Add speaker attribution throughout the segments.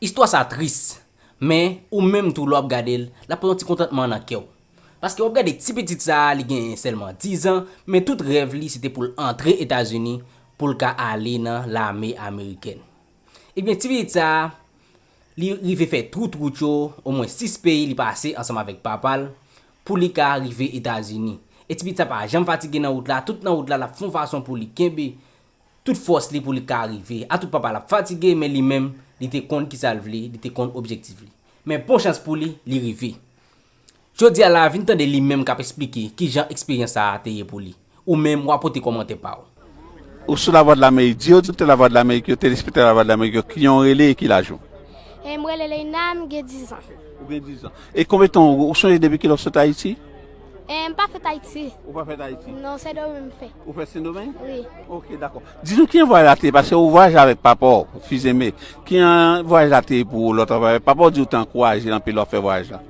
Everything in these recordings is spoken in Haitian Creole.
Speaker 1: Istwa sa tris, men ou menm tou lè wap gade l, lap pran yon ti kontantman nan kè w. Paske wap gade ti pitit sa a li genyen sèlman 10 an, men tout rèv li se te pou l antre Etazini pou l ka ale nan lame amerikèn. Ebyen ti pitit sa a li rive fè tout wout yo, omwen 6 peyi li pase ansanm avèk papa l pou li ka rive Etazini. E ti pitit sa pa janm fatige nan wout la, tout nan wout la lap fon fason pou li kenbe tout fòs li pou li ka rive a tout papa l ap fatige men li menm li te konn kisa l vle li te konn objektif li men bon chans pou li li rive jodi a la vin tande li menm k ap esplike kijan eksperyans sa a te ye pou li ou menm wa pote kòmantè pa w. Ou sou
Speaker 2: Lavwadlamerik, di oditè Lavwadlamerik yo, telespektatè Lavwadlamerik yo, kijan w rele e ki laj ou? E m rele
Speaker 3: Leïna, m gen dizan. Ou gen dizan.
Speaker 2: E konbyen tan ou sonje depi kilè ou sot Ayiti? Eh m pa
Speaker 3: fèt Ayiti. Ou pa fèt Ayiti? Non,
Speaker 2: Sendomeng m fèt.
Speaker 3: Ou fèt Sendomeng? Wi.
Speaker 2: Ok, dakò.
Speaker 3: Di
Speaker 2: nou kijan vwayaj la te, paske ou vwayaje avèk papa w, Fizeme. Kijan vwayaj la te pou ou lè w t ap vwayaje? Papa w di ou te ankouraje anpil lè w ap fè vwayaj la?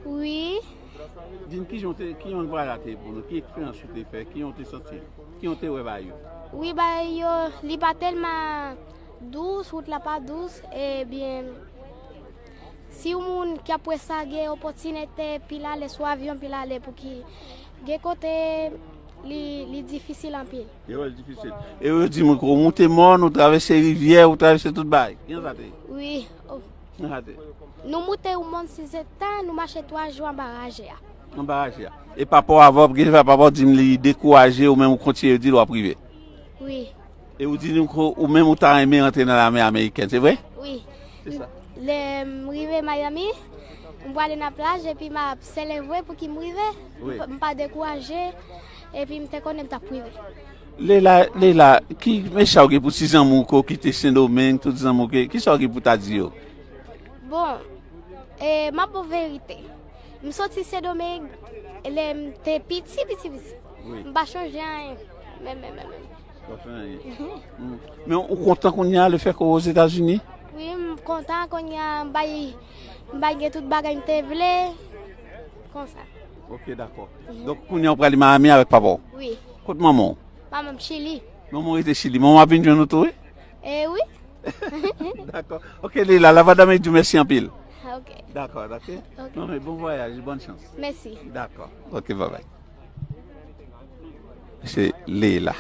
Speaker 2: Wi.
Speaker 3: Di
Speaker 2: m kijan w te, kijan vwayaj la te pou nou? Ki eksperyans ou te fè? Kijan w te santi? Kijan w te wè bagay yo? Wi, bagay
Speaker 3: yo, li pa tèlman dous, wout la pa dous, ebyen. Si yon moun ki ap wè sa gen opòtinete pil ale sou avyon pil ale pouki gen kote li difisil anpil.
Speaker 2: E yo di mouko ou moute mòn ou travèse rivyè ou travèse tout bagay. Kijan sa te ye? Wi
Speaker 3: oh. Kijan sa te ye? Nou moute yon mòn si se ta nou mache 3 jou anba raje a. Anba raje a.
Speaker 2: E papa w avè w gen sa papa w di m li dekouraje ou men ou kontinye yo di l wap rive? Wi.
Speaker 3: E ou di nou
Speaker 2: ke ou menm ou ta renmen rantre nan lame amerikèn, se vre? Wi.
Speaker 3: Lè
Speaker 2: m rive
Speaker 3: Miami, m prale nan plaj epi m ap selevre pouki m rive. M pa dekouraje epi m te konnen m t ap rive. Leila,
Speaker 2: Leila, ki mesaj ou gen pou ti zanmi w ke w kite Sendomeng, tout zanmi w ke, kisa w gen pou w ta di yo? Bon,
Speaker 3: m ap ba w verite. M soti Sendomeng lè m te piti piti piti. M pa chonje anyen, menm menm menm.
Speaker 2: Men ou kontan kounye a le fèt ke w ozetazini? Wi m
Speaker 3: kontan kounye a m bay gen tout bagay m te vle konsa. Ok dakò.
Speaker 2: Donk kounye a w prale Miami avèk papa w? Wi. Kot manman
Speaker 3: w?
Speaker 2: Manman m chili.
Speaker 3: Manman w rete chili. Manman
Speaker 2: w ap vin jwenn ou tou wi? E wi. Dakò. Ok Leila la vwa dame di w mèsi anpil. Ok. Dakò
Speaker 3: ok.
Speaker 2: Bon vwayaj e bòn chans. Mèsi. Dakò.
Speaker 3: Ok
Speaker 2: babay. Se Leela.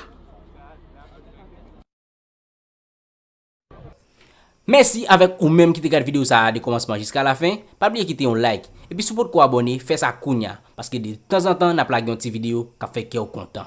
Speaker 1: Mèsi avèk ou menm ki te gad video sa a de kòmansman jiska lafen, pa bliye kite yon like, epi si w potko abòne fè sa kounya paske de tanzantan nap lage yon ti video kap fè kè w kontan.